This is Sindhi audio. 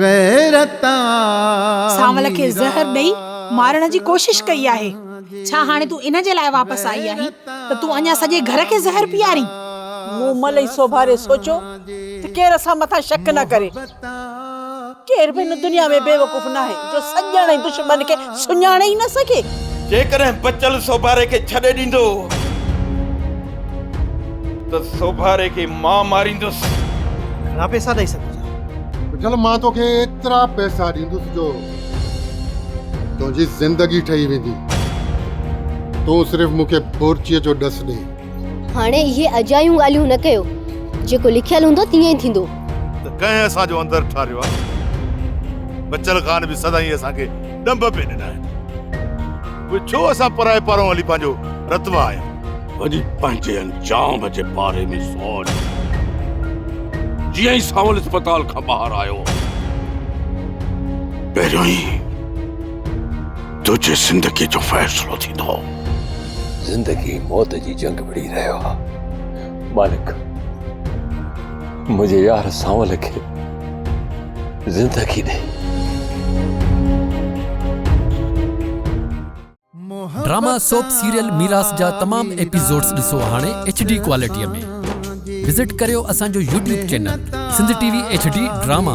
غيرت آ ميرا. سانول کي زهر ڏئي مارڻ جي ڪوشش ڪئي آهي. ڇا هاڻي تون ان جي لاء واپس آئي آهين ته تون اڃا سڄي گهر کي زهر پيئارين. مون ملئي سوڀاري سوچيو ته ڪير اسان مٿان شڪ نه ڪري. ڪير به هن دنيا ۾ بيوقوف ناهي جو سڄڻ ۽ دشمن کي سڃاڻي ئي نه سگهي. جيڪڏهن بچل سوڀاري کي ڇڏي ڏيندو ته سوڀاري کي مان ماريندس. گهڻا پئسا ڏئي سگهجان؟ بچل مان توکي ايترا پئسا ڏيندس جو تنهنجي زندگي ٺهي ويندي. تون صرف مون کي بورچيء جو ڏس ڏي. هاڻي اهي اجايون ڳالهيون نه ڪيو. جيڪو لکيل هوندو تيئن ئي ٿيندو. ته ڪنهن اسان جو اندر ٺاريو آهي. بچل خان به سدائين اسان کي ڏنڀ پئي ڏنا آهن. پوء ڇو اسان پرائي پارون هلي پنهنجو رتبا آهيون. وڃي پنهنجي انجام جي باري ۾ سوچ. جيئن ئي سانول اسپتال کان ٻاهر آيو هو. پهريون ئي. تنهنجي زندگي جو فيصلو ٿيندو. زندگي موت جي جنگ وڙهي رهيو آ مالڪ منهنجي يار سانول کي زندگي ڏي. ڊراما سوپ سيريل ميراث جا تمام ايپيسوڊز ڏسو هاڻي ايڇ ڊي ڪوالٽيء ۾ وزٽ ڪريو اسان جو YouTube channel Sindh T V H D drama.